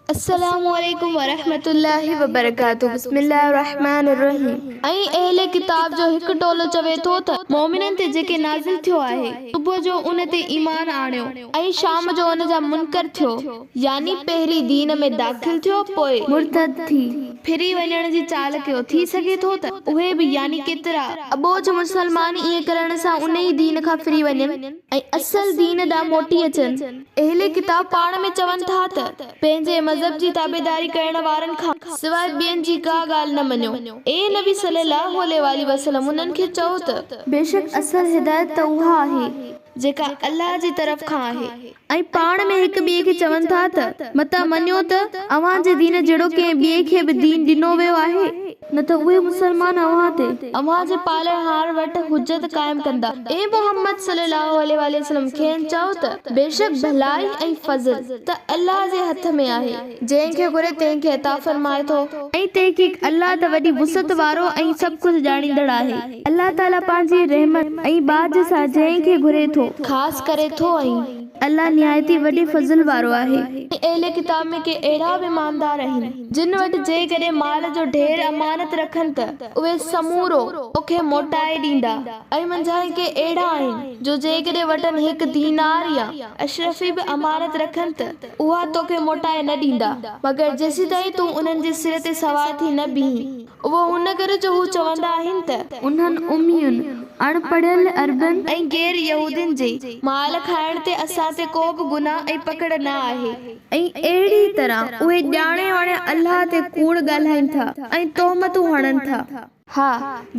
السلام عليڪم ورحمة الله وبرڪاته بسم الله الرحمٰن الرحيم ۽ اهل ڪتاب جو هڪ ٽولو چوي ٿو ته مؤمنن تي جيڪي نازل ٿيو آهي صبح جو ان تي ايمان آڻيو ۽ شام جو ان جا منڪر ٿيو يعني پهرين دين ۾ داخل ٿيو پوء مرتد ٿي ڦري وڃڻ جي چال ڪيو ٿي سگهي ٿو ته اهي به يعني ڪيترا اٻوجهه مسلمان ائين ڪرڻ سان انهي دين کان ڦري وڃن. ۽ اصل دين ڏانهن موٽي اچن. اهل ڪتاب پاڻ ۾ چون ٿا ته، پنهنجي مذهب جي تابعداري ڪرڻ وارن کان سواء ٻين جي ڪا ڳالهه نه مڃو. اي نبي صلّي اللّٰه عليه واٰله وسلّم انهن کي چئو ته. بيشڪ اصل هدايت ته اها آهي. جيڪا الله جي طرف کان آهي. ۽ پاڻ ۾ هڪ ٻئي کي چون ٿا ته، متان مڃو ته اوهان جي دين جهڙو ڪنهن ٻئي کي به دين ڏنو ويو آهي. نه ته اهي مسلمان اوهان تي. اوهان جي پالڻهار وٽ حجت قائم ڪندا. اي محمد صلي الله عليه واٰله وسلم کين چئو ته، بيشڪ ڀلائي ۽ فضل ته الله جي هٿ ۾ آهي، جنهن کي گهري تنهن کي عطا فرمائي ٿو، ۽ تحقيق الله ته وڏي وسعت وارو ۽ سڀ ڪجهه ڄاڻيندڙ آهي، الله تعاليٰ پنهنجي رحمت ۽ ٻاجهه سان جنهن کي گهري ٿو. خاص ڪري ٿو ۽. الله نهايت ئي وڏي فضل وارو آهي. ۽ اهل ڪتاب ۾ ڪي اهڙا به ايماندار آهن. جن وٽ جيڪڏهن مال جو ڍير امانت رکن ته اهي سمورو توکي موٽائي ڏيندا ۽ منجهان ڪي اهڙا آهن جو جيڪڏهن وٽن هڪ دينار يا اشرفي به امانت رکن ته اها توکي موٽائي نه ڏيندا مگر جيسيتائين تون انهن جي سر تي سوار ٿي نه بيهين. اهو ان ڪري جو هو چوندا آهن ته. انهن امين، اڻ پڙهيل عربن. ۽ غير يهودين جي. مال کائڻ تي اسان تي ڪو به گناهه ۽ پڪڙ نه آهي. ۽ اهڙيء طرح اهي ڄاڻي واڻي الله تي ڪوڙ ڳالهائين ٿا ۽ تهمتون هڻن ٿا. ها،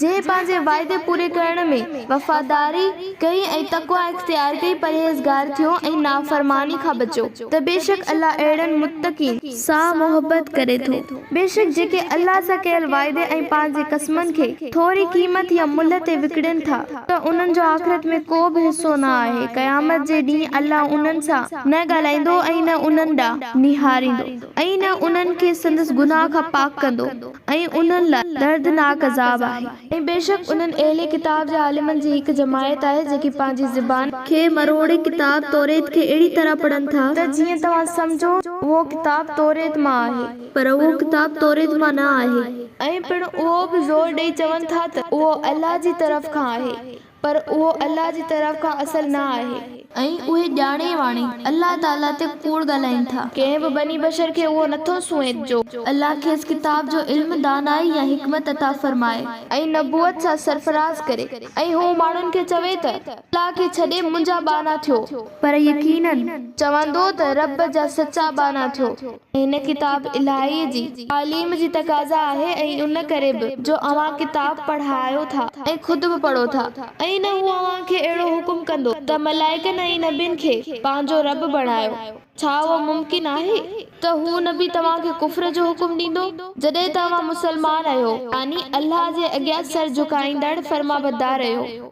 جنهن پنهنجي وعدي پوري ڪرڻ ۾ وفاداري ڪئي ۽ تقويٰ اختيار ڪئي، پرهيزگار ٿيو ۽ نافرماني کان بچيو، ته بيشڪ الله اهڙن متقين. سان محبت ڪري ٿو. بيشڪ جيڪي الله سان ڪيل وعدي ۽ پنهنجي قسمن کي ٿوري قيمت يا ملهه تي وڪڻين ٿا ته انهن جو آخرت ۾ ڪو به حصو نه آهي، قيامت جي ڏينهن الله انهن سان نه ڳالهائيندو ۽ نه انهن ڏانهن نهاريندو ۽ نه انهن کي سندس گناهه کان پاڪ ڪندو ۽ انهن لاء دردناڪ عذاب آهي. ۽ بيشڪ انهن اهل ڪتاب جي عالمن جي هڪ جماعت آهي جيڪي پنهنجي زبان. کي مروڙي ڪتاب توّريت کي اهڙي طرح پڙهن ٿا. ته جيئن توهان سمجهو اهو ڪتاب توّريت مان آهي. پر اهو ڪتاب توّريت مان نه آهي. ۽ پڻ اهو به زور ڏئي چون ٿا ته اهو الله جي طرف کان آهي. پر اهو الله جي طرف کان اصل نه آهي. ۽ اهي ڄاڻي واڻي الله تعاليٰ تي ڪوڙ ڳالهائين ٿا. ڪنهن به بني بشر کي اهو نه ٿو سونهين جو. الله کيس ڪتاب جو علم، دانائي يا حڪمت عطا فرمائي. ۽ نبوت سان سرفراز ڪري. ۽ هو ماڻهن کي چوي ته، الله کي ڇڏي منهنجا ٻانها ٿيو. پر يقيناً. چوندو ته، رب جا سچا ٻانها ٿيو. هن ڪتاب الاهيء جي تعليم جي تقاضا آهي ۽ ان ڪري به جو اوهان ڪتاب پڙهايو ٿا ۽ خود به پڙهو ٿا ۽ نه هو اوهان کي اهڙو حڪم ڪندو ته ملائڪن ۽ نبين کي پنهنجو رب بڻايو، ڇا اهو ممڪن آهي ته هو نبي توهان کي ڪفر جو حڪم ڏيندو جڏهن ته اوهان مسلمان رهيو يعني الله جي اڳيان سر جهڪائيندڙ فرمانبدار رهيو.